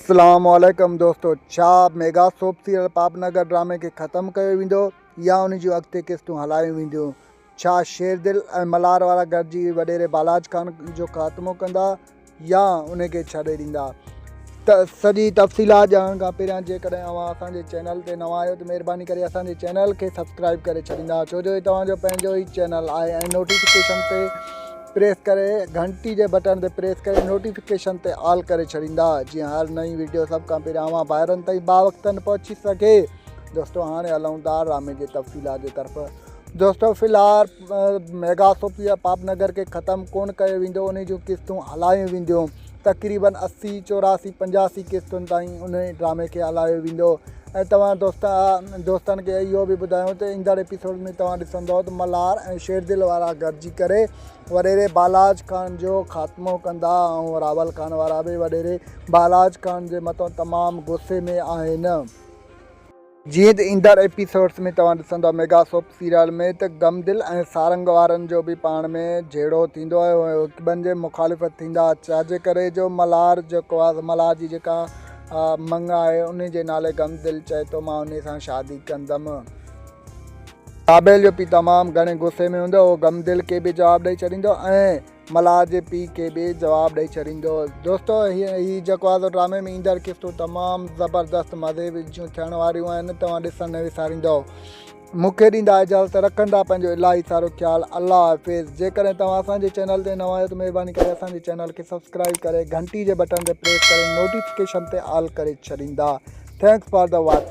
اسلام عليڪم دوستو ڇا ميگا سوپ سيريل پاپ نگر ڊرامي کي ختم ڪيو ويندو يا ان جون اڳتي قسطون هلايون وينديون ڇا شير دل ۽ ملهار وارا گڏجي وڏيري بالاچ خان جو خاتمو ڪندا يا ان کي ڇڏي ڏيندا ته سڄي تفصيلات ڄاڻڻ کان پهريان جيڪڏهن اوهان اسان جي چينل تي نوان آهيو ته مهرباني ڪري اسان جي چينل کي سبسڪرائب ڪري ڇڏيندا ڇو جو هي توهان جو پنهنجو ئي چينل آهي ۽ نوٽيفڪيشن تي پريس ڪري گهنٽي جي بٽڻ تي پريس ڪري نوٽيفڪيشن تي آل ڪري ڇڏيندا جيئن هر نئين ويڊيو سڀ کان پهريان اوهان ڀائرن تائين با وقتن پهچي سگهي دوستو هاڻي هلون ٿا ڊرامي جي تفصيلات جي طرف دوستو في الحال ميگا سوپيا پاپ نگر کي ختم ڪون ڪيو ويندو ان جون قسطون هلايون وينديون تقريباً اسي، چوراسي، پنجاسي قسطن تائين انهيء ڊرامي کي هلايو ويندو ۽ توهان دوستن کي اهو به ٻڌايون ته ايندڙ ايپيسوڊ ۾ توهان ڏسندؤ ته ملهار ۽ شيردل وارا گڏجي ڪري وڏيري بالاچ خان جو خاتمو ڪندا ۽ راول خان وارا به وڏيري بالاچ خان جي مٿان تمام غصي ۾ آهن. جيئن ته ايندڙ ايپيسوڊز ۾ توهان ڏسندا ميگا سوپ سيريل ۾ ته غم دل ۽ سارنگ وارن جو به پاڻ ۾ جهيڙو ٿيندو ۽ اهي هڪٻن جي مخالف ٿيندا ڇاجي ڪري جو ملهار جيڪو آهي ملهار جي جيڪا منڱ آهي انهي جي نالي غم دل چئي ٿو مان انهي سان شادي ڪندم. ڪابيل جو پيء تمام گهڻي غصي ۾ هوندو اهو غم دل کي به جواب ڏئي ڇڏيندو ۽. ملاح جي پيء کي به جواب ڏئي ڇڏيندو. دوستو هي جيڪو آزو ڊرامي ۾ ايندڙ قسطون تمام زبردست مزي جون ٿيڻ واريون آهن توهان ڏسڻ نه وساريندؤ مون کي ڏيندا اجازت رکندا پنهنجو الاهي سارو خيال الله حافظ جيڪڏهن توهان اسان جي چينل تي نوان آهيو ته مهرباني ڪري اسان جي چينل کي سبسڪرائب ڪري گهنٽي جي بٽن تي پريس ڪري نوٽيفڪيشن تي آل ڪري ڇڏيندا ٿينڪس فار دا واچنگ.